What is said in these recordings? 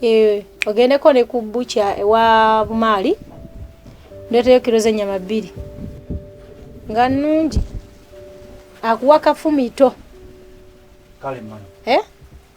Eh, ogendeko ne ku bucha ewa bumaali ndoteyo kiro z'ennyama bbiri nga nnungi akuwa kafumito kale mwana eh?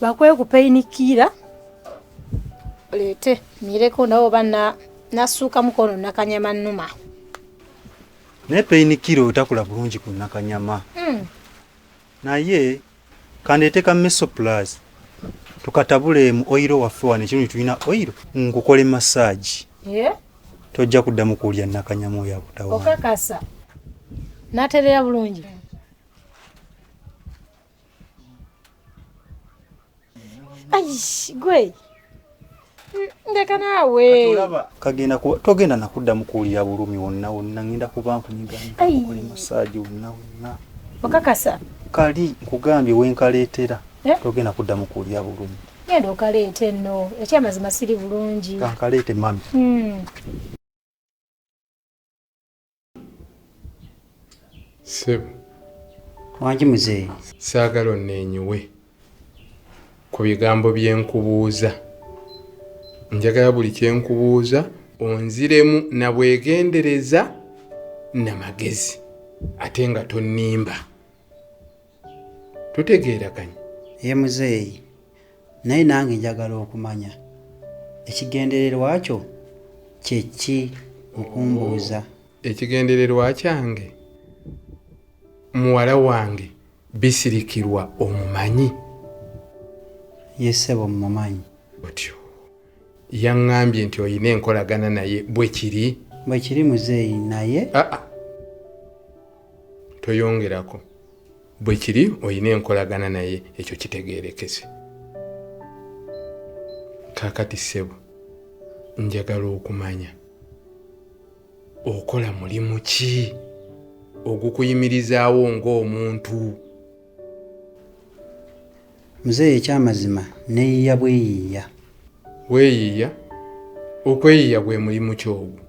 bakwee kupeyinikiira leete mireko nawe oba nassuukamu kono nakanyama nnuma naye peyinikiira otakula bulungi ku nakanyama hmm. naye kandeete ka mesoplas tukatabule mu oyiro waffe wano ekirungi tulina oyiro nkukole masaagi tojja kuddamu kuwulira nakanyama oyo akutawa okakasa naterera bulungi gwe ndeka naawe kagenda kuba togenda nakuddamu kuwulira bulumi wonna wonna ngenda kuba nkunyigankole masaagi wonna wonna okakasa kali nkugambye wenkaleetera eh? togenda kuddamu kuwulira bulumi genda okaleete nno ekyamazima siri bulungi kankaleete mami hmm. Sebo. Wangi muzeeyi. Saagala onneenyiwe ku bigambo bye nkubuuza. Njagala buli kye nkubuuza onziremu na bwegendereza na magezi ate nga tonnimba. tutegeeraganye ye muzeeyi naye nange njagala okumanya ekigendererwa kyo kyeki mukumbuuza ekigendererwa kyange muwala wange bisirikirwa omumanyi yesebo mumanyi otyo yaŋŋambye nti olina enkolagana naye bwe kiri bwe kiri muzeeyi naye ah, ah. toyongerako bwe kiri olina enkolagana naye ekyo kitegeerekese kakati ssebo njagala okumanya okola mulimu ki ogukuyimirizaawo ng'omuntu muzeeyi ekyamazima neyiya bweyiiya weyiiya okweyiiya gwe mulimu kyogu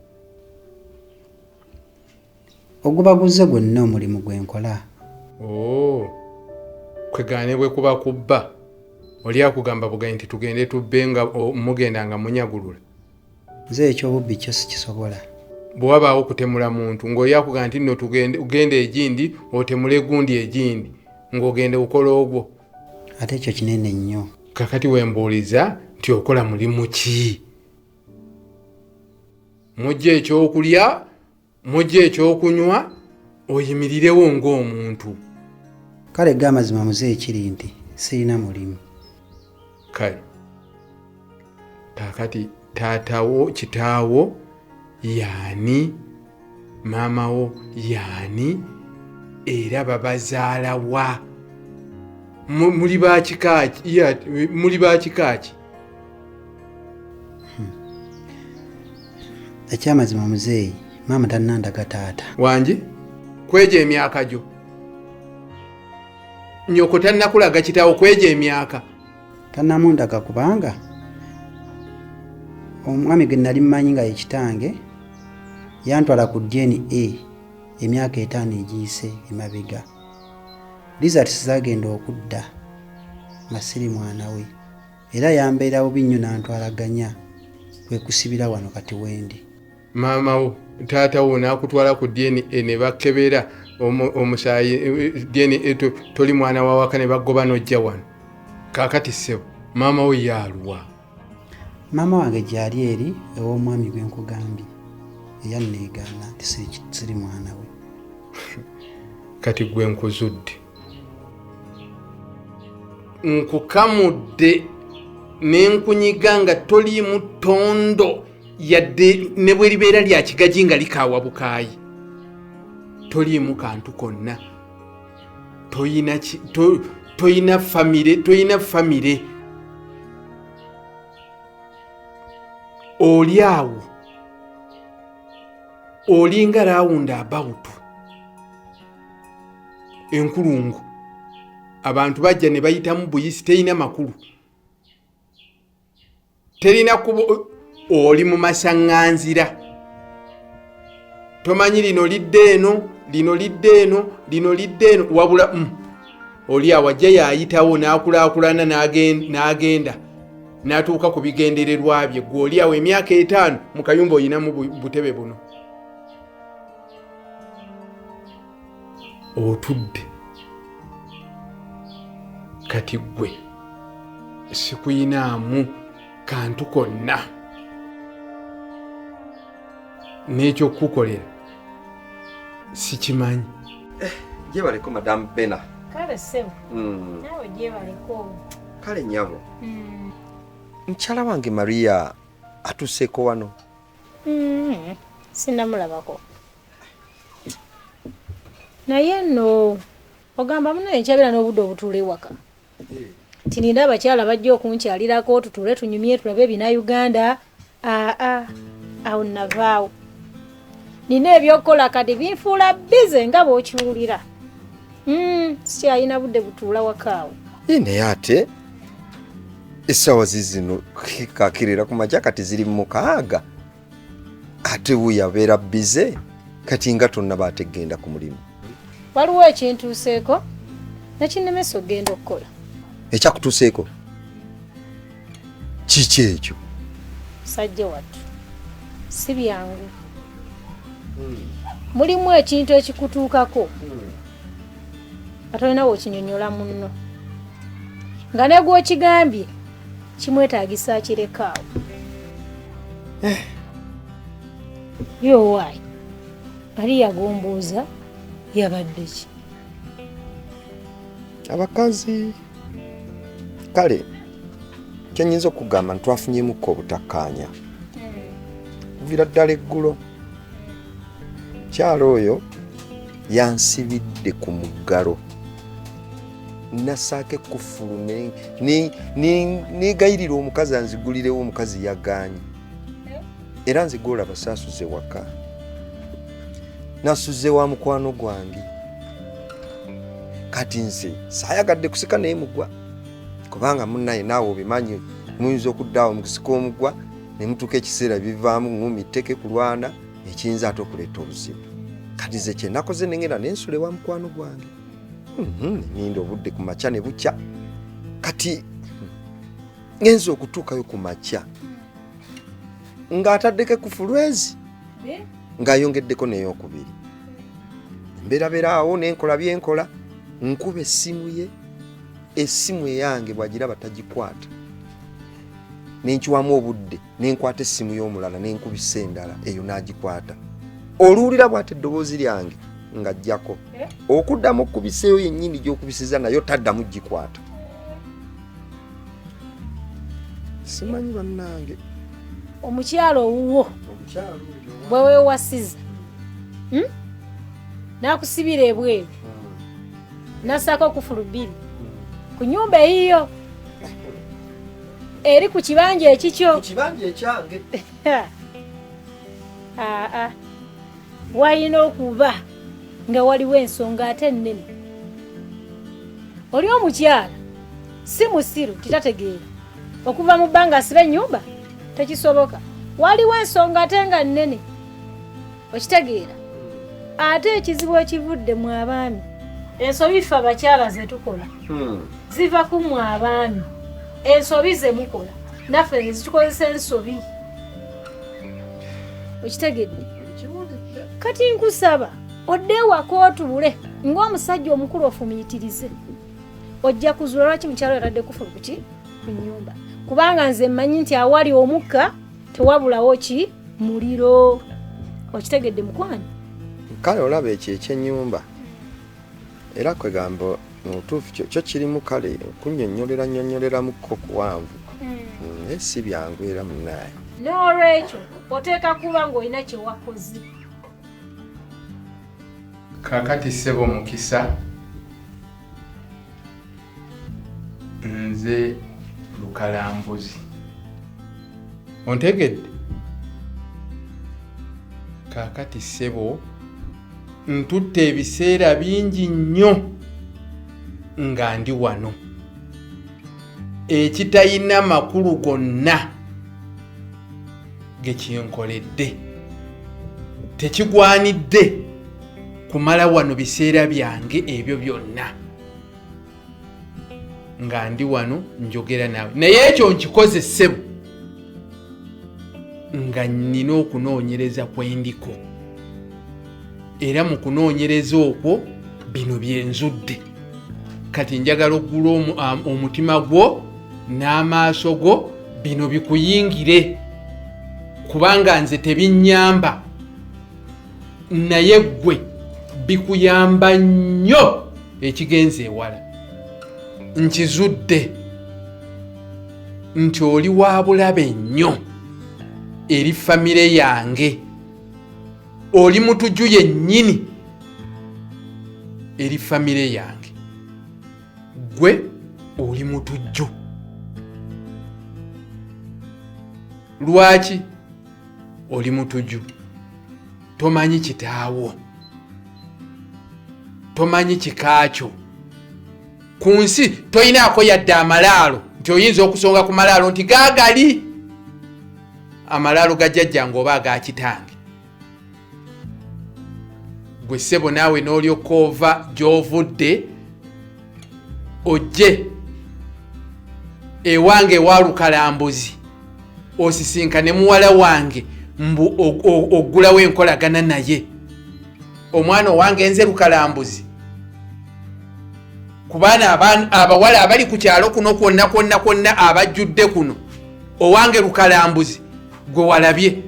Oguba guzze gwenna omulimu gwe nkola. Ooh kwegamba ne bwe kuba kubba oli akugamba bugayi nti tugende tubbe nga mugenda nga munyagulula. Nze eky'obubbi kyo sikisobola. Bwe wabaawo okutemula muntu ng'oli akugamba nti nno tugende genda egindi otemule gundi egindi ng'ogenda okola ogwo. Ate ekyo kinene nnyo. Kakati we mbuuliza nti okola mulimu ki? Mujja eky'okulya? mujje ekyokunywa oyimirirewo ng'omuntu kale ga amazima muze ekiri nti sirina mulimu kale kakati taatawo kitaawo yaani maamawo yaani era babazaala wa muli bakikaaki muli bakikaaki Hmm. ekyamazima muzeeyi maama tannandaga taata wangi kwejo emyaka gyo nyoko tannakulaga kitawo kwejo emyaka tannamundaga kubanga omwami gwe nali mmanyi nga yekitange yantwala ku dna emyaka etaano egiyise emabega lizarts zagenda okudda masiri mwana we era yambeera bubi nnyo n'antwala ganya kwe kusibira wano kati wendi. Maama wo taata wo n'akutwala ku DNA ne bakebera omusaayi DNA toli mwana wa waka ne bagoba n'ojja wano kaakati ssebo maama wo yaaluwa? Maama wange gyali eri ew'omwami gwe nkugambye eyanneegaana nti siri mwana we. kati gwe nkuzudde. nkukamudde nenkunyiga nga toliimu tondo yadde ne bwe libeera lya kigagi nga likaawa bukaayi toliimu kantu konna toyina famire toyina famire oli awo olinga rawundi abawutu enkulungu abantu bajja ne bayitamu buyisi terina makulu terina kuba oli mu masaŋŋanzira tomanyi lino lidde eno lino lidde eno lino lidde eno wabula mm, oli awajja yayitawo n'akulaakulana n'agenda n'atuuka ku bigendererwa bye gwe oli awo emyaka etaano mu kayumba olinamu butebe buno otudde kati gwe sikuyinaamu kantu konna n'ekyokukukolera sikimanyi eh, gyebaleko madamu bena kale sebo hmm. nawe gyebaleko kale nyabo hmm. mukyala wange maria atuseeko wano Mm, sinamulabako naye no ogamba muno enkyabira n'obudde obutuula ewaka eh. tinina abakyala bajja okunkyalirako tutuule tunyumye tulabe ebina uganda aa awo navaawo nina ebyokukola kati binfuula bize nga bwokiwulira Mm, sikyalina budde butuula wakaawo. Ye naye ate essaawa zizino kakirira ku makya kati ziri mukaaga ate wuyo abeera bize kati nga tonna baategenda ku mulimu waliwo ekintuuseeko nakinnemesa okugenda okukola ekyakutuuseeko kiki ekyo musajja wattu si byangu mulimu ekintu ekikutuukako atolina wekinyonyola munno nga negwokigambye kimwetagisa akirekaawo eh. yowaayi ali yagombuuza yabadde ki abakazi kale kyenyinza okugamba ntitwafunyemukko obutakkaanya kuvira ddala eggulo mukyalo oyo yansibidde ku muggalo nasaako ekkufulu negayirira omukazi anzigulirewo omukazi yagaanyi era nze gwolaba saasuze waka nasuze wa mukwano gwange kati nze sayagadde kusika naye mugwa kubanga munaye naawe obimanyi muyinza okuddaawo mukusika omugwa ne mutuuka ekiseera bivaamu ngumi tteke kulwana ekiyinza ate okuleeta obuzibu kati ze kyenakoze nengenda nensula ewa mukwano gwange mhm, ninda obudde ku makya ne bukya kati ngenza okutuukayo ku makya ng'ataddeko ku fulwezi ng'ayongeddeko n'eyokubiri mberabeera awo nenkola byenkola nkuba essimu ye essimu eyange bwagira batagikwata nenkiwamu obudde nenkwata essimu y'omulala nenkubisa endala eyo n'agikwata oluwulira bwati eddoboozi lyange nga jjako eh? okuddamu okukubiseeyo yennyini gy'okubisiza nayo taddamu gikwata simanyi bannange omukyalo owuwo bwe wewasiza hmm? nakusibira ebweru hmm. nasako okufulu bbiri hmm. ku nyumba eyiyo eri ku kibanja ekikyo walina okuba nga waliwo ensonga ate ennene oli omukyala si musiru titategeera okuva mu bbanga asiba ennyumba tekisoboka waliwo ensonga ate nga nnene okitegeera ate ekizibu ekivudde mu abaami ensobi ffe abakyala zetukola hmm. ziva ku mu abaami ensobi zemukola naffe zitukozesa ensobi okitegedde kati nkusaba odde ewaka otubule ng'omusajja omukulu ofumiitirize ojja kuzuula lwaki mukyalo yatadde kufulu kuki ku nyumba kubanga nze mmanyi nti awali omukka tewabulawo ki muliro okitegedde mukwano kale olaba ekyo ekyenyumba era kwegamba mubutuufu kyo kirimu kale kunyonyolera nyonyoleramukko kuwanvu hmm. mm, naye si byangu era munaaye n'olwekyo oteeka kuba ng'olina kyewakoze kakati sebo mukisa nze lukalambuzi ontegedde kakati sebo ntutte ebiseera bingi nnyo nga ndi wano ekitalina makulu gonna gekinkoledde tekigwanidde kumala wano biseera byange ebyo byonna nga ndi wano njogera naawe naye ekyo nkikoze ssebo nga nnina okunoonyereza kwe ndiko era mu kunoonyereza okwo bino byenzudde kati njagala okugula um, omutima gwo n'amaaso go bino bikuyingire kubanga nze tebinyamba naye ggwe bikuyamba nnyo ekigenza ewala nkizudde nti oli wa bulabe nnyo eri famire yange oli mutuju yennyini eri famire yange gwe oli mutujju lwaki oli mutujju tomanyi kitaawo tomanyi kikaakyo ku nsi toyinaako yadde amalaalo nti oyinza okusonga ku malaalo nti gaagali amalaalo ga jjajjange oba aga kitange gwe ssebo naawe n'olyoka ova gy'ovudde ojje ewange ewalukalambuzi osisinkane muwala wange mbu oggulawo enkolagana naye omwana owange nze lukalambuzi kubaana abawala abali ku kyalo kuno kwonna kwonna kwonna abajjudde kuno owange lukalambuzi gwe walabye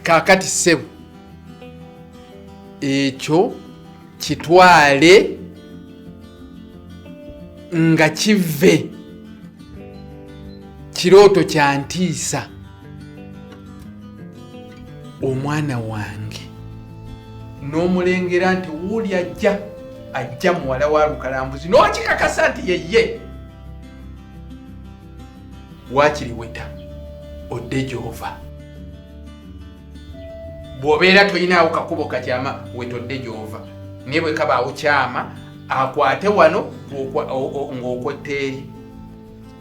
kakati sebo ekyo kitwale nga kive kirooto kya ntiisa omwana wange n'omulengera nti wuuli ajja ajja muwala wa lukalambuzi n'okikakasa nti yeye waakiri weta odde gy'ova bw'obeera tolinaawo kakubo kakyama wetodde gy'ova naye bwe kabaawo kyama akwate wano ng'okwetta eri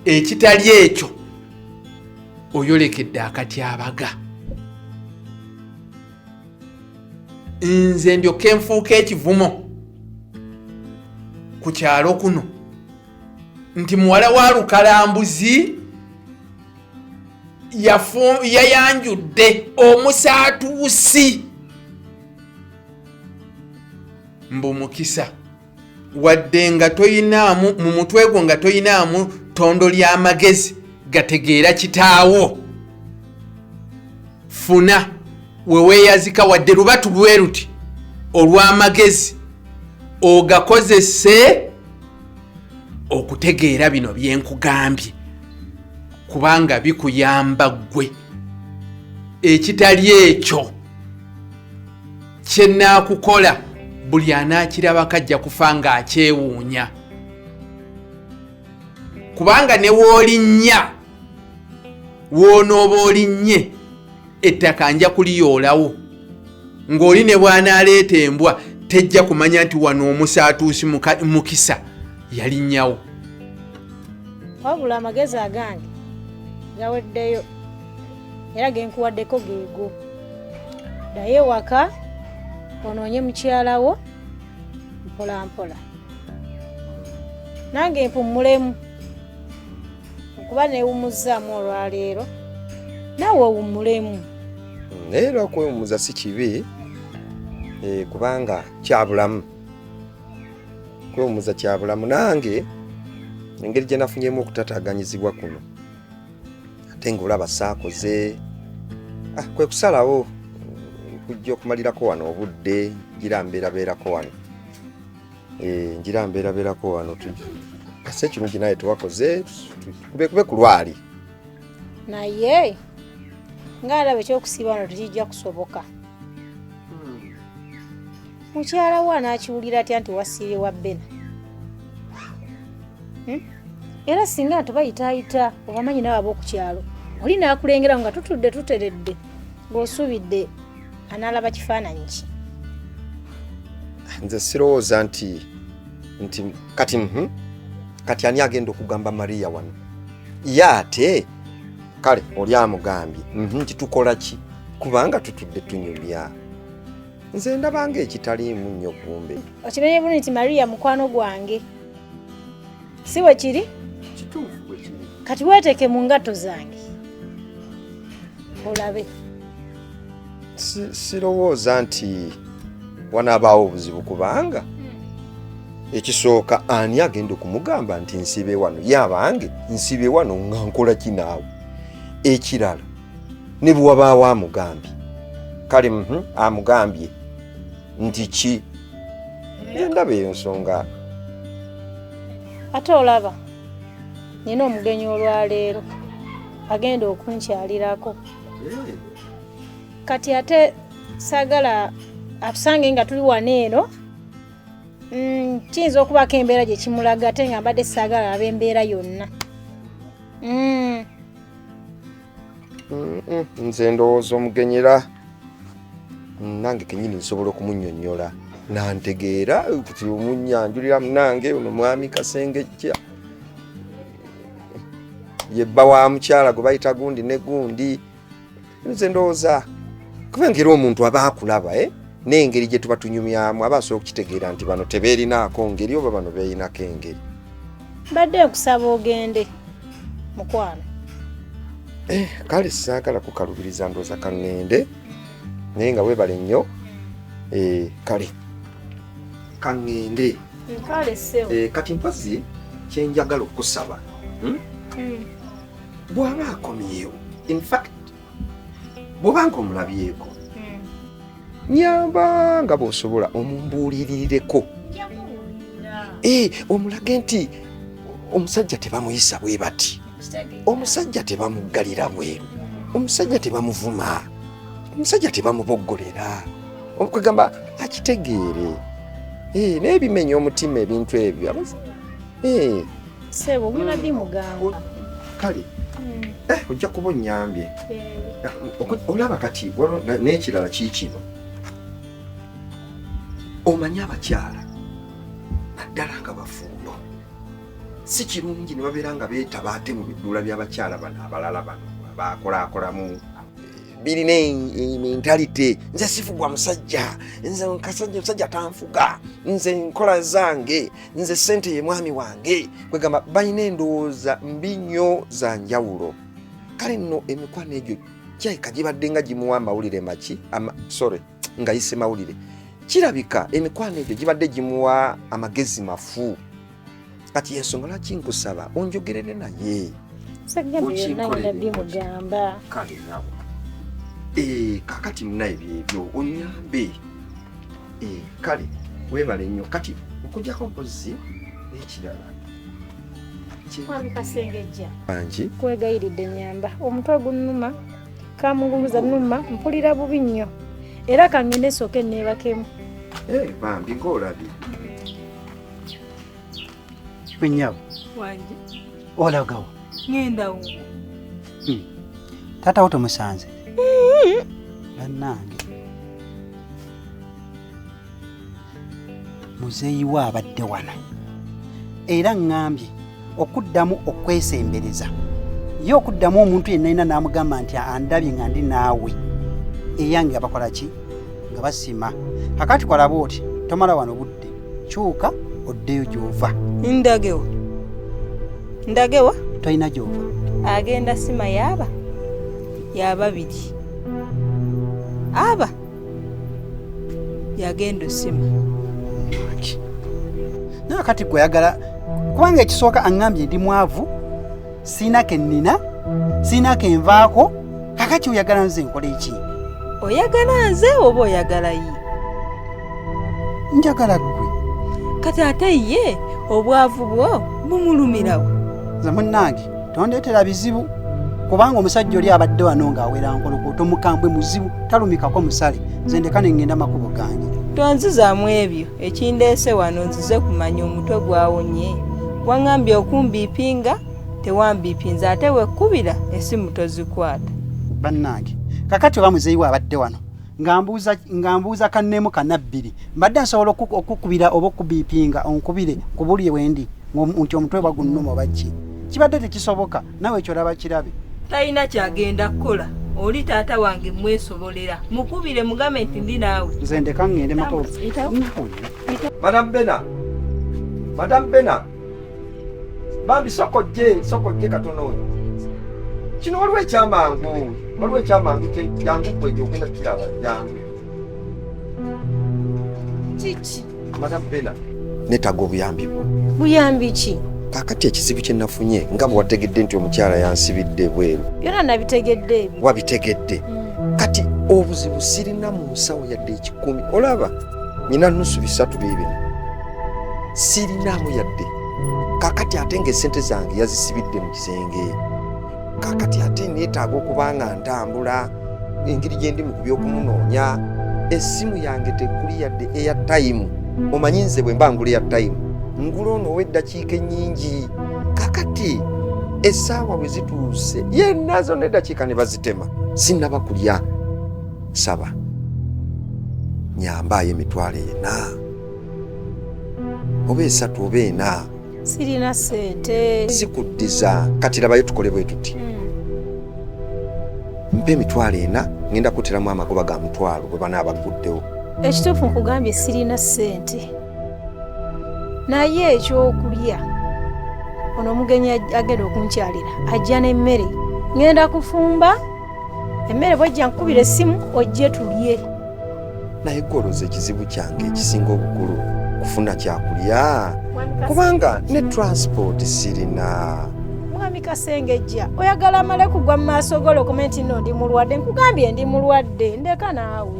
ekitali ekyo oyolekedde akatyabaga nze ndyoka enfuuka ekivumo ku kyalo kuno nti muwala wa lukalambuzi yayanjudde omusaatuusi mbu mukisa wadde nga toyinaamu mu mutwe gwo nga toyinaamu tondo ly'amagezi gategeera kitaawo funa weweeyazika wadde lubatu lweruti olw'amagezi ogakozese okutegeera bino byenkugambye kubanga bikuyamba ggwe ekitali ekyo kyenaakukola buli anaakirabako ajja kufa ng'akyewuunya kubanga ne woolinnya woonooba olinnye ettaka nja kuliyoolawo ng'oli ne bw'anaaleeta embwa tejja kumanya nti wano omusaatuusi mukisa yalinnyawo wabula amagezi agange gaweddeyo era genkuwaddeko geego ddayo ewaka onoonye mukyalawo mpolampola nange mpummulemu nkuba newumuzzaamu olwaleero naawe owummulemu hmm, naye era okwewummuza si kibi eh, kubanga kyabulamu okwewummuza kyabulamu nange engeri gye nafunyemu okutataganyizibwa kuno ate ngaolaba saakoze ah, kwe kusalawo kujja okumalirako wano obudde gira mbeerabeerako wano Eh, njira mbeerabeerako wano kasa ekirungi naye tewakoze kubekube ku lwali naye ngaalaba ekyokusiiba wano tekijja kusoboka hmm. mukyala wo anaakiwulira atya nti wasiire wa bena hmm? era singa nti bayitaayita obamanyi nawe ab'oku kyalo oli naakulengerawo nga tutudde tuteredde ng'osuubidde anaalaba kifaananyi ki nze sirowooza nti nti kati mhm, kati ani agenda okugamba mariya wano ye ate kale oli amugambye mhm, nti tukola ki kubanga tutudde tunyumya nze ndabanga ekitaliimu nnyo kumbe okimenye bulu nti mariya mukwano gwange si bwe kiri kati weeteeke mu ngatto zange olabe sirowooza nti wanaabaawo obuzibu kubanga hmm. ekisooka ani agenda okumugamba nti nsibe wano yabange nsibe wano nga nkola kinaawe ekirala ne bwe wabaawo amugambye kale mhm, amugambye nti ki endaba eyo nsonga ate olaba nina omugenyi olwaleero agenda okunkyalirako kati ate sagala atusange nga tuli wano eno mm, kiyinza okubaako embeera gye kimulaga ate nga mbadde sagala aba embeera yonna mm. nze ndowooza omugenyera nange kenyini nsobola okumunyonyola nantegeera kuti omunyanjulira munange ono mwami kasengejja yebba wa mukyala gwe bayita gundi ne gundi nze ndowooza kubanga era omuntu aba akulaba eh? n'engeri gye tuba tunyumyamu aba asobola okukitegeera nti bano tebeerinaako ngeri oba bano beerinako engeri mbadde nkusaba ogende mukwano eh, kale saagala kukalubiriza ndooza kaŋŋende naye nga weebale nnyo eh, kale kaŋŋende Eh, kati mpazi kyenjagala okusaba hmm? hmm. bwaba akomyewo infact bwobanga omulabyeko hmm. nyamba nga bwosobola omumbuulirireko eh, omulage nti omusajja tebamuyisa bwe bati omusajja tebamuggalira bweru omusajja tebamuvuma omusajja tebamuboggolera okugamba akitegeere eh, naye bimenya omutima ebintu ebyo eh. sebo mulabye muganga kale hmm. eh, ojja kuba onyambye olaba kati n'ekirala kiikino omanyi abakyala naddala nga bafumbo si kirungi ne babeera nga beetaba ate mu biduula by'abakyala bano abalala bano baakolakolamu birina mentality nze sifugwa musajja nze nkasajja musajja tanfuga nze nkola zange nze sente ye mwami wange kwegamba balina endowooza mbi nnyo za njawulo kale nno emikwano egyo kyaika gibadde nga gimuwa amawulire maki ama, sorry ngayise mawulire kirabika emikwano egyo gibadde gimuwa amagezi mafu kati yensonga lwaki nkusaba onjogerere naye bimugamba kale nabo eh, kakati munaye byebyo onyambe eh, kale webale nnyo kati okujako mpozi ekirala angi kwegayiridde nyamba omutwe ogunuma kamunguluza numa mpulira bubi nnyo era kangende sooke neebakemu eh, bambi ngaolabye Gwe nnyabo. Wange. Olagawa. Ngenda wo. Hmm. Taata wo tomusanze. Hmm. Bannange. Muzeeyi we abadde wano. Era ŋŋambye okuddamu okwesembereza ye okuddamu omuntu yenna yina n'amugamba nti andabye nga ndi naawe eyange nga bakola ki nga basima kakati kwalaba oti tomala wano budde kyuka oddeyo gyova ndagewa ndagewa tolina gyova agenda sima yaaba yababiri aba yagenda osima nawe kati gwe oyagala kubanga ekisooka aŋŋambye ndi mwavu siina ke nnina siina ke nvaako kakati oyagala nze nkola eki oyagala nze oba oyagala ye njagala gwe kati ate ye obwavu bwo bumulumirawo nze munnange tondetera bizibu kubanga omusajja oli abadde wano ng'awera nkolokoto mukambwe muzibu talumikako musale nze ndeka ne ŋŋenda makubo gange tonzizaamu ebyo ekindeese wano nzize kumanya omutwe gwawonye waŋambye okumbiipinga tewambiipinza ate wekkubira esimu tozikwata bannange kakati oba muzeeyi we abadde wano ngambuuza ngambuuza kanemu kanabbiri mbadde nsobola okukubira oba okubipinga onkubire nkubulire wendi nti omutwe bagunnuma obakki kibadde tekisoboka nawe ekyo laba kirabe talina kyagenda kukola oli taata wange mwesobolera mukubire mugambe nti ndi naawe nze ndeka ngende mako madam bena madam bena bambi sokojje sokojje katono oyo kino waliwo ekyamangu waliwo ekyamangu jangu gwe gyogenda kiraba jangu kiki madamu bena netaga obuyambi bwo buyambi ki kakati ekizibu kye nafunye nga bwewategedde nti omukyala yansibidde bweru byona nabitegedde ebyo wabitegedde mm. kati obuzibu sirina mu nsawo yadde ekikumi olaba nyina nusu bisatu bibi sirinaamu yadde kakati ate nga esente zange yazisibidde mu kisenge kakati ate neetaaga okuba nga ntambula engeri gye ndi mu ku by'okumunoonya essimu yange tekuli yadde eya tayimu omanyi nze bwe mba ngula eya tayimu ngula ono ow'eddakiika ennyingi kakati essaawa bwe zituuse yenna zonna eddakiika ne bazitema sinnaba kulya saba nyambaayo emitwalo ena oba esatu oba ena sirina sente zikuddiza kati labayo tukole bwe tuti hmm. mpa emitwalo ena ngenda kuteramu amagoba ga mutwalo bwe banaaba gguddewo ekituufu nkugambye sirina sente naye ekyokulya ono omugenyi agenda okunkyalira ajja n'emmere ngenda kufumba emmere bwejja nkubira essimu ojje tulye naye gwoloza ekizibu kyange ekisinga obukulu kufuna kyakulya kubanga ne transport sirina mwami kasengejja oyagala amale kugwa mu maaso golo okome nti no ndi mulwadde nkugambye ndi mulwadde ndeka naawe